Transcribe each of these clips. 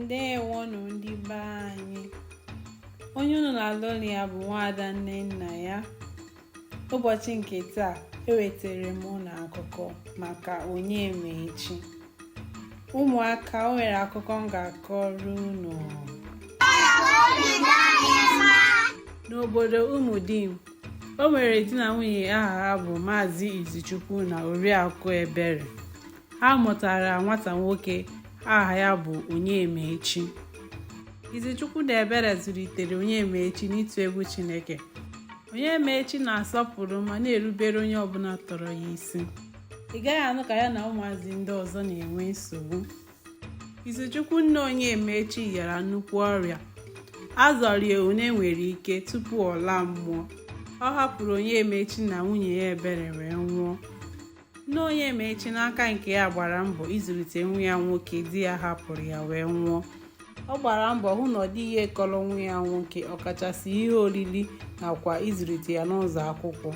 ndewonụ ndị be anyị onye unu na-anụ olu ya bụ nwaada nnennaya ụbọchị nke taa ewetara m unu akụkọ maka Onyemaechi ụmụaka o nwere akụkọ m ga-akọrọ unu n'obodo umudim o nwere di na nwunye aha ha bụ maazị izichukwu na oriakụ ebere ha mụtara nwata nwoke aha ya bụ Onyemaechi Izichukwu na Ebere zụlitere Onyemaechi n'ịtụ egwu Chineke Onyemaechi na-asọpụrụ ma na-erubere onye ọbụla tọrọ ya isi ị gaghị anụ ka ya na ụmụazị ndị ọzọ na-enwe nsogbu Izichukwu nna Onyemaechi yara nnukwu ọrịa a zọrọ ya one nwere ike tupu ọ laa mmụọ ọ hapụrụ Onyemaechi na nwunye ya ebere wee nwụọ nne Onyemaechi n'aka nke ya gbara mbọ ịzụlite nwa ya nwoke di ya hapụrụ ya wee nwụọ ọ gbara mbọ hụ na ọ dịghị ihe kọrọ nwa ya nwoke ọkachasị ihe oriri nakwa ịzụlite ya n'ụzọ akwụkwọ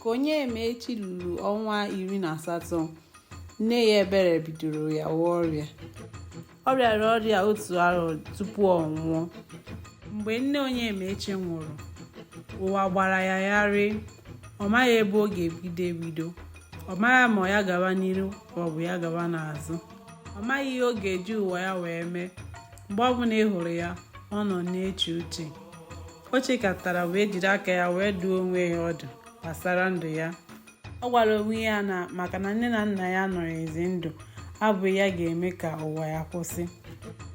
ka Onyemaechi luru ọnwa iri na asatọ nne ya ebere bidoro yawa ọrịa ọ rịara ọrịa otu arọ tupu ọ nwụọ mgbe nne Onyemaechi nwụrụ ụwa gbara ya gharịị ọ maghị ebe ọ ga-ebido ebido ọ maghị ma ya gawa n'iru ma ọ bụ ya gawa n'azụ ọ maghị ihe ọ ga-eji ụwa ya wee mee mgbe ọbụla ị hụrụ ya ọ nọ na-eche uche o chekatara wee jiri aka ya wee dụọ onwe ya ọdụ gbasara ndụ ya ọ gwara onwe ya na maka na nne na nna ya anọghịzi ndụ abụghị ya ga-eme ka ụwa ya kwụsị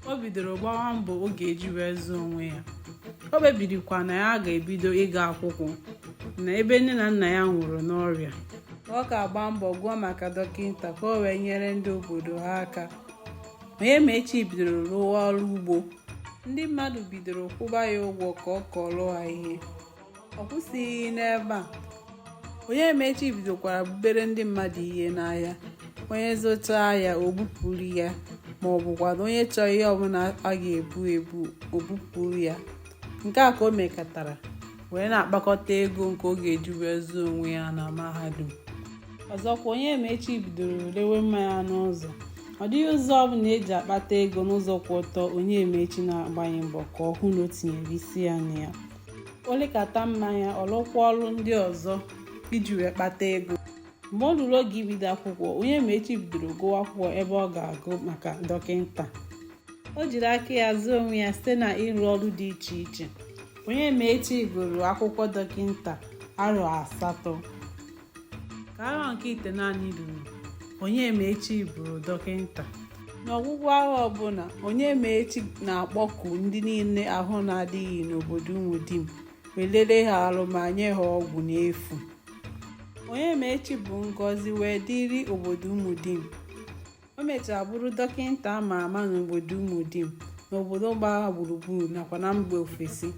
o bidoro gbawa mbọ ọ ga-eji wee zụọ onwe ya o kpebirikwa na ya ga-ebido ịga akwụkwọ na ebe nne na nna ya nwụrụ n'ọrịa ọ ga-agba mbọ gụọ maka dọkịta ka o wee nyere ndị obodo ha aka Onyemaechi bidoro rụwa ọrụ ugbo ndị mmadụ bidoro kwụba ya ụgwọ ka ọ kọrọ ha ihe ọ kwụsịghị n'ebe a Onyemaechi bidokwara bubere ndị mmadụ ihe n'ahịa onye zụta ya o bupụrụ ya ma ọ bụkwanụ onye chọọ ihe ọbụla a ga-ebu ebu o bupụrụ ya nke a ka o mekatara wee na-akpakọta ego nke ọ ga-eji wee zụọ onwe ya na mahadum ọzọkwa Onyemaechi bidoro lewe mmanya n'ụzọ ọ dịghị ụzọ ọbụla eji akpata ego n'ụzọ kwụ ọtọ Onyemaechi na-agbaghị mbọ ka ọ hụ na o tinyere isi ya na ya o lekata mmanya ọ lụkwa ọlụ ndị ọzọ iji wee kpata ego mgbe o luru oge ibido akwụkwọ Onyemaechi bidoro gụwa akwụkwọ ebe ọ ga-agụ maka dọkịta o jiri aka ya zụọ onwe ya site na ịrụ ọrụ dị iche iche Onyemaechi gụrụ akwụkwọ dọkịta arọ asatọ ka arọ nke itenaanị ruru Onyemaechi bụrụ dọkịta n'ọgwụgwụ arọ ọbụla Onyemaechi na-akpọku ndị niile ahụ na-adịghị n'obodo Umudim wee lere ha arụ ma nye ha ọgwụ n'efu Onyemaechi bụ ngọzi wee dịrị obodo Umudim o mechara bụrụ dọkịta a ma ama n'obodo Umudim n'obodo gbara gburugburu nakwa na mba ofesi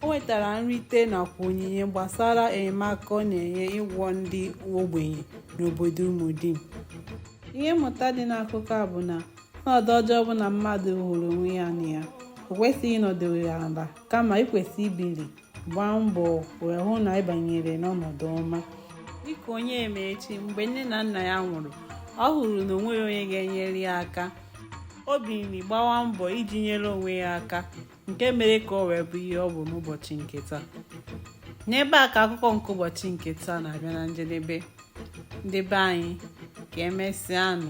o nwetara nrite nakwa onyinye gbasara enyemaka ọ na-enye ịgwọ ndị ogbenye n'obodo Umudim ihe mmụta dị n'akụkọ a bụ na ọnọdụ ọjọọ ọbụla mmadụ hụrụ onwe ya na ya o kwesịghị ịnọdụ ya ala kama i kwesị ibili gbaa mbọ wee hụ na ị banyere n'ọnọdụ ọma dịka Onyemaechi mgbe nne na nna ya nwụrụ ọ hụrụ na o nweghị onye ga-enyere ya aka o bilie gbawa mbọ iji nyere onwe ya aka nke mere ka o wee bụ ihe ọ bụ n'ụbọchị nke taa n'ebe a ka akụkọ nke ụbọchị nke taa na-abịa na njedebe ndị be anyị ka emesịanụ